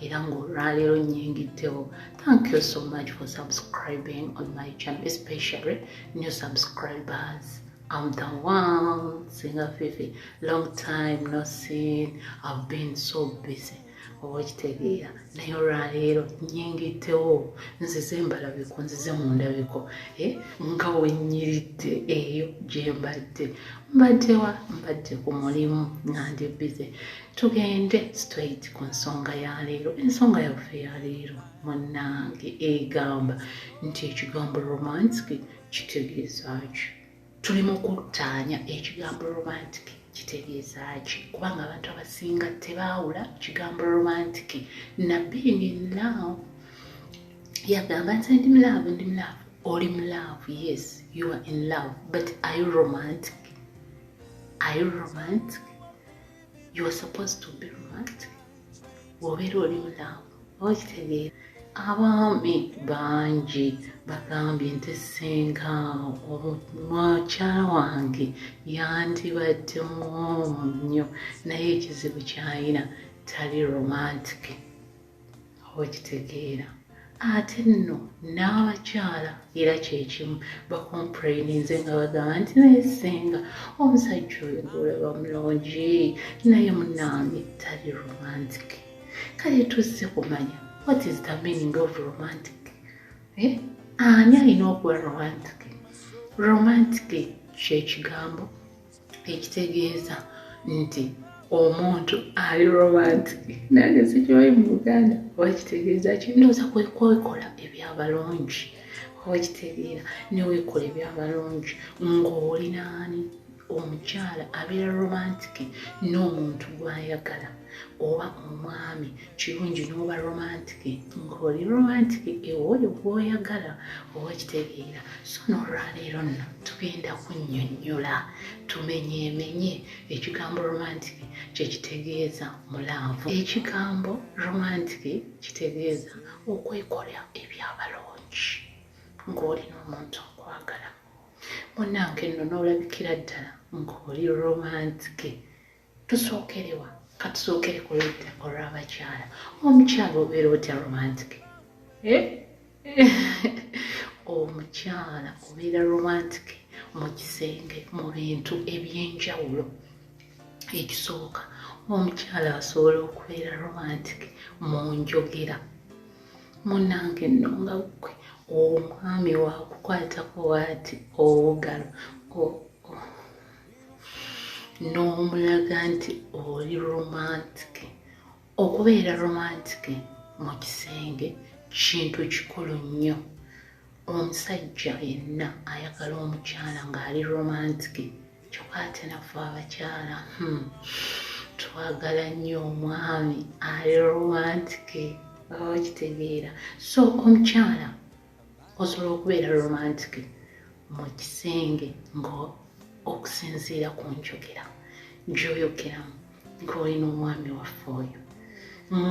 era ng'olwaleero nyingiddewo thank you so much for subscribing on my channel especially new subscribers I'm the one singer Fifi long time no seen I've been so busy oba okitegeera naye olwaleero nyingiddewo nzize embalabiko nzize mu ndabiko eh, nga wenyiridde eyo gye mbadde mbaddewa mbadde ku mulimu nga ndi bize tugende straight ku nsonga ya leero ensonga yaffe ya leero munange egamba nti ekigambo romantic kitegeezaaki tuli mu kuttaanya ekigambo romantic kitegeezaaki kubanga abantu abasinga tebaawula kigambo romantic na being in love yagamba nti ndi mulaavu ndi mulaavu oli mulaavu yes you are in love but are you romantic are you romantic you are supposed to be romantic wobeera oli mulamu okitegeera abaami bangi bagambye nti senga mukyala wange yandibadde mwomu nnyo naye ekizibu kyayina tali romantiki okitegeera ate nno n'abakyala era kyekimu bakompraininze nga bagamba nti nayesenga omusajja oyo gulaba mulungi naye munange tali romantic kale tuzze kumanya what is the meaning of romantic eh? ani alina okuba romantic romantic kyekigambo ekitegeeza nti omuntu ali romantic nange sikiwayi mu buganda oba kitegeeza kindooza kwekwekola ebyabalungi oba kitegeera newekola ebyabalungi ng'olinaani omukyala abeera romantic n'omuntu gwayagala oba omwami kirungi n'oba romantiki ng'oli romantiki ewooyo gwoyagala oba kitegeera so n'olwaleero nno tugenda kunnyonnyola tumenyeemenye ekigambo romantiki kye kitegeeza mulaavu ekigambo romantiki kitegeeza okwekola ebyabalungi ng'oli n'omuntu okwagala munange nno n'olabikira ddala ng'oli romantiki tusookerewa katusookere ku ludda olw'abakyala omukyala obeera otya romantic eh? omukyala obeera romantic mu kisenge mu bintu eby'enjawulo ekisooka omukyala asobola okubeera romantic mu njogera munange nno nga gwe omwami wakukwatako waati obugalo n'omulaga nti oli romantike okubeera romantike mu kisenge kintu kikulu nnyo omusajja yenna ayagala omukyala ng'ali romantike kyoka ate nafe abakyala hmm, twagala nnyo omwami ali romantike baba bakitegeera so omukyala osobola okubeera romantic mu kisenge nga okusinziira ku njogera gyoyogeramu ng'olina omwami waffe oyo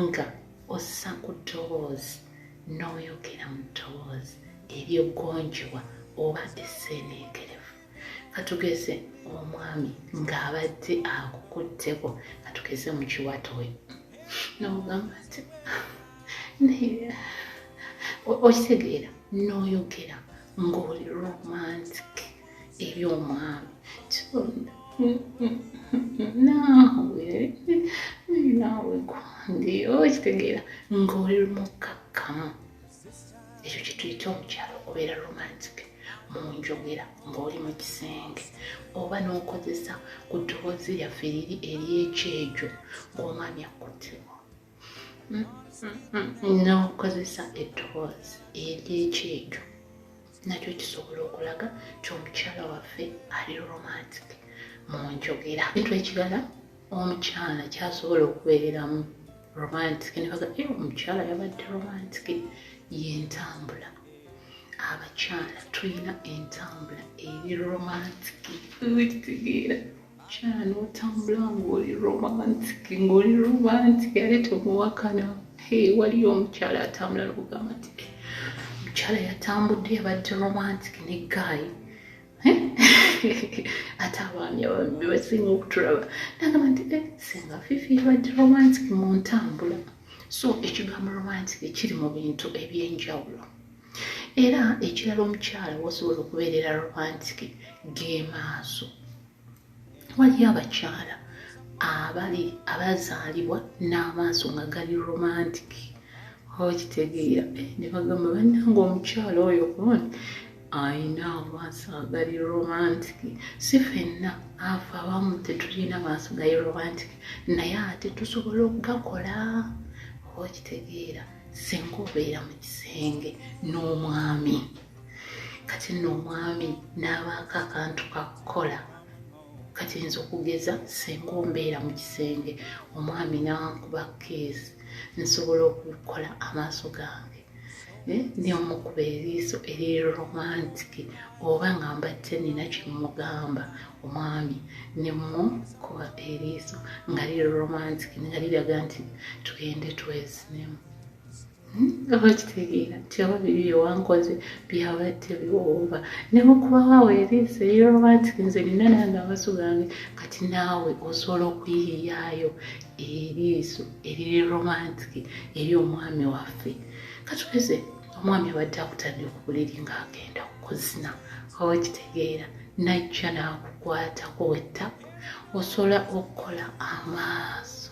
nga ossa ku ddoboozi n'oyogera mu ddoboozi ery'eggonjebwa oba esseeneekerevu katugeze omwami ng'abadde akukutteko katugeze mu kiwatowe nogamba nti okitegeera n'oyogera ng'oli romantic eri omwami naawe naawe gundi okitegeera ng'oli mukkakkamu ekyo kyetuyita omukyalo okubeera romantic mu njogera ng'oli mu kisenge oba n'okozesa ku ddoboozi lyaffe liri ery'ekyejo ng'omwami akkutteko hmm, hmm, hmm. n'okozesa eddoboozi ery'ekyejo nakyo kisobola okulaga nti omukyala waffe ali romantic mu njogera ekintu ekirala omukyala kyasobola okubeeramu romantic nebaga e omukyala yabadde romantic yentambula abakyala tulina entambula eri romantic kitegeera mukyala notambula ngaoli romantic ngaoli romantic ale tomuwakana waliyo omukyala atambula nokugamba ti eh, omukyala yatambudde yabadde romantic ne gaayi ate abaami ababbi basinga okutulaba nagamba nti eh, singa fifi badi romantic mu ntambula so ekigambo romantic kiri mu bintu ebyenjawulo era ekirala omukyala wosobola okubeerera romantic gemaaso waliyo abakyala abali abazaalibwa n'amaaso nga gali romantic okitegeera eh, ne bagamba bannanga omukyala oyo kuon ayina amaaso agali romantic si fenna afe abamu tetulina maaso gali romantic naye ate tusobola okugakola okitegeera singa obeera mu kisenge n'omwami kati nno omwami n'abaako akantu kakukola kati nza okugeza senga ombeera mu kisenge omwami n'ankuba keesi nsobola okukola amaaso gange eh, neomukuba eriiso eriri romantiki oba nga mbadde nina kyemugamba omwami nemukuba eriiso nga liri romantiki nga liraga nti tugende twezinemu oba kitegeera nti oba biri byewankoze byaba tebiwooba nemukubawo awo eriiso eriroba nti nze nina nange amaso gange kati naawe osobola okuyiiyaayo eriiso eriri romantiki eri omwami waffe katugeze omwami abadde akutadde okubuliri ng'agenda okuzina oba kitegeera najja n'akukwatako wettaku osobola okukola amaaso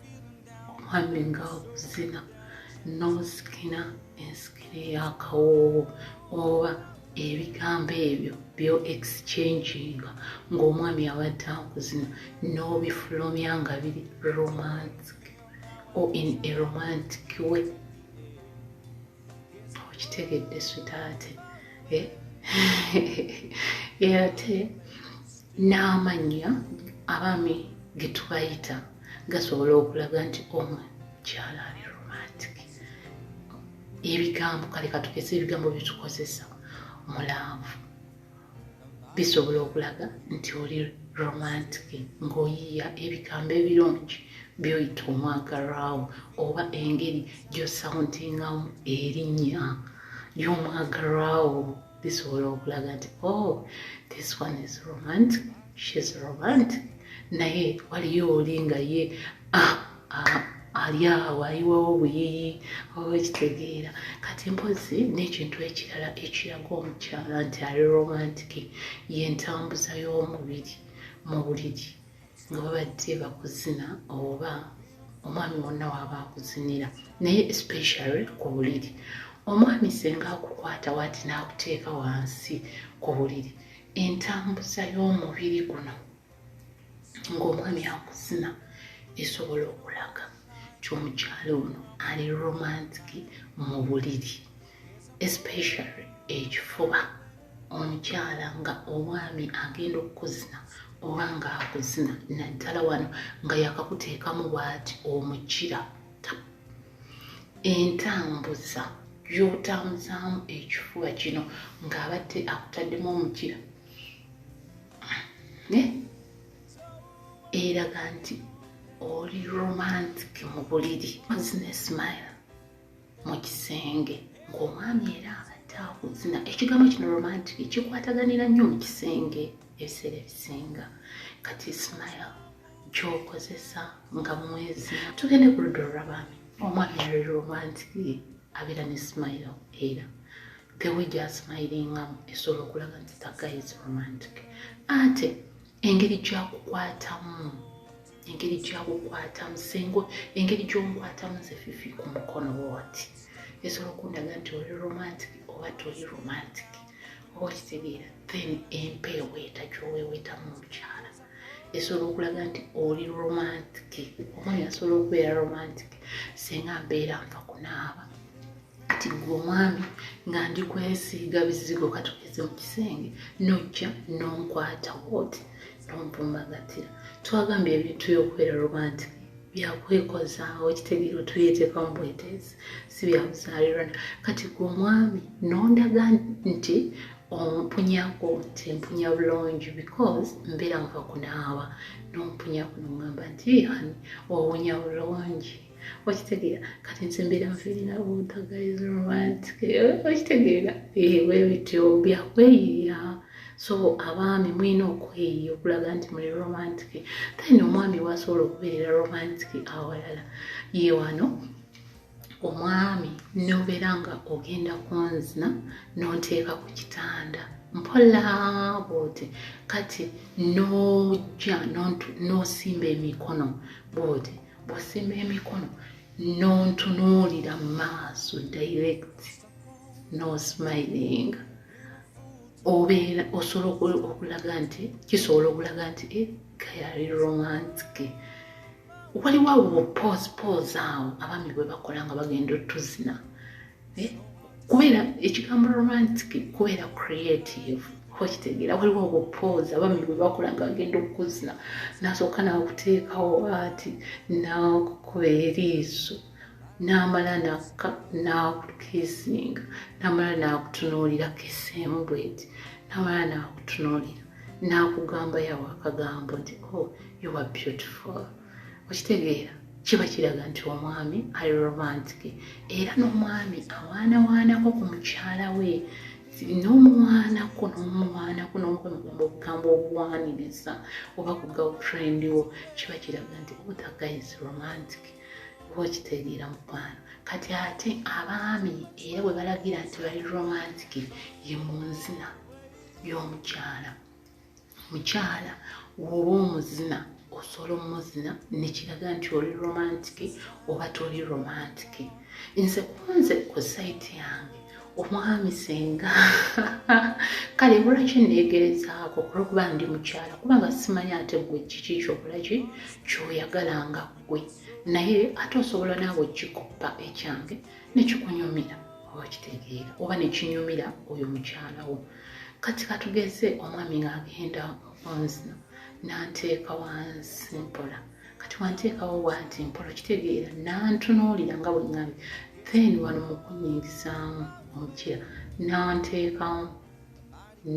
omwami nga okuzina n'osikina ensikire y'akawoowo oba ebigambo ebyo byo exchanginga ng'omwami abadde akuzina n'obifulumya nga biri romantic or in a romantic way okitegedde switaate eh? era ate n'amannya abaami ge tubayita gasobola okulaga nti omu kyala ali romantic ebigambo kale katugeze ebigambo byetukozesa mulaavu bisobola okulaga nti oli romantic ng'oyiiya ebigambo ebirungi byoyita omwagalwawo oba engeri gyosauntingamu erinnya ly'omwagalwawo bisobola okulaga nti o oh, this one is romantic shes romantic naye waliyo oli nga ye ah, ali awo ayiwawo obuyiyi oba ekitegeera kati mpozi n'ekintu ekirala ekiraga omukyala nti ali romantiki yentambuza y'omubiri mu buliri nga babadde bakuzina oba omwami wonna waaba akuzinira naye especially ku buliri omwami senga akukwata wati n'akuteeka wansi ku buliri entambuza y'omubiri guno ng'omwami akuzina esobola okulaga ky'omukyalo ono ali romantic mu buliri especially ekifuba omukyala nga omwami agenda okukuzina oba ng'akuzina naddala wano nga yakakuteekamu bwati omukira entambuza gy'otambuzaamu ekifuba kino ng'abadde akutaddemu omukira eraga nti oli romantic mu buliri ozina smile mu kisenge ng'omwami era abadde akuzina ekigambo kino romantic kikwataganira nnyo mu kisenge ebiseera ebisinga kati smile gyokozesa nga mwezi tugende ku ludda olw'abaami omwami ali romantic abeera ne smile era the way gyasmilingamu esobola okulaga nti the guy is romantic ate engeri gyakukwatamu engeri gyakukwatamu sengo engeri gyomukwatamu nze fifi ku mukono woti esobola okundaga nti oli romantic oba toli romantic oba okitegeera then empeeweeta gyoweeweetamu omukyala esobola okulaga nti oli romantic omwana asobola okubeera romantic senga mbeera nfa kunaaba kati gwe omwami nga ndi kwesiiga bizigo katugeze mu kisenge nojja nonkwata woti nompumbagatira twagambye ebintu byokubeera romantic byakwekozaawo kitegeera otuyeteka mu bweteesi si byabuzaalirana kati gwe omwami nondaga nti ompunyako nti mpunya bulungi because mbeera nva kunaaba nompunyako nongamba nti ani owunya bulungi okitegeera kati nze mbeera nfiirina obutagaiza romantic okitegeera ewe bityo byakweyiya so abaami mulina okweyiya okulaga nti muli romantic then omwami wasobola okubeerera romantic awalala ye wano omwami nobeera nga ogenda kunzina nonteeka ku kitanda mpola bwoti kati nojja nosimba emikono bwoti bw'osimba emikono n'ontunuulira mu maaso direct no smiling obeera osobola okulaga nti kisobola okulaga nti eh, kayali romantic waliwo awo pose pose awo abaami bwe bakola nga bagenda otuzina eh, kubeera ekigambo romantic kubeera creative okitegeera waliwo obupoozi abami bwe bakola nga agenda okukuzina nasooka nakuteekawo ati nakukuba eriiso namala nakka nakukisinga namala nakutunuulira kesemu bweti namala nakutunuulira nakugamba yawo akagambo nti oh, you are beautiful okitegeera kiba kiraga nti omwami ali romantic era n'omwami awaanawaanako ku mukyala we n'omuwaanako n'omuwaanako n'omukwemugamba okugamba okuwaaniriza oba ku girlfriend wo kiba kiraga nti obutagayis oh, romantic oba okitegeera mukwano kati ate abaami era bwe balagira nti bali romantic ye munzina y'omukyala mukyala woba omuzina osobola omuzina nekiraga nti oli romantiki oba toli romantiki nze kunze ku saiti yange omwami senga kale bulaki neegerezaako olwokuba ndi mukyala kubanga simanyi ate gwe kiki kyobulaki kyoyagala nga gwe naye ate osobola naawe kikoppa ekyange nekikunyumira oba kitegeera oba nekinyumira oyo mukyala wo kati katugeze omwami ng'agenda okunzino nanteeka wansi mpola kati wanteekawo wanti mpola kitegeera nantunuulira nga bwe ŋŋabi then wano mu kunyingisaamu omukira nanteekamu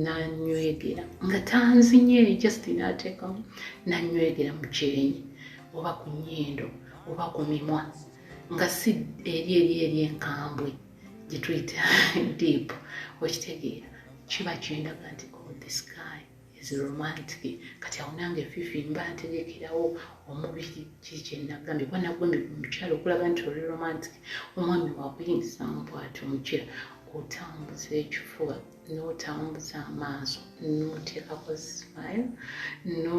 nanywegera nga tanzinye just nateekamu nanywegera mu kyenyi oba ku nnyindo oba ku mimwa nga si eri eri eri enkambwe gyetuyita deep okitegeera kiba kyendaga nti oh, this guy is romantic kati awo nange fifi mba ntegekerawo omubiri kiri kyenagambye kuba nagambye omukyala okulaga nti oli romantic omwami wakuyingiza mu bwati omukyala otambuza ekifuba notambuza amaaso noteekako smile no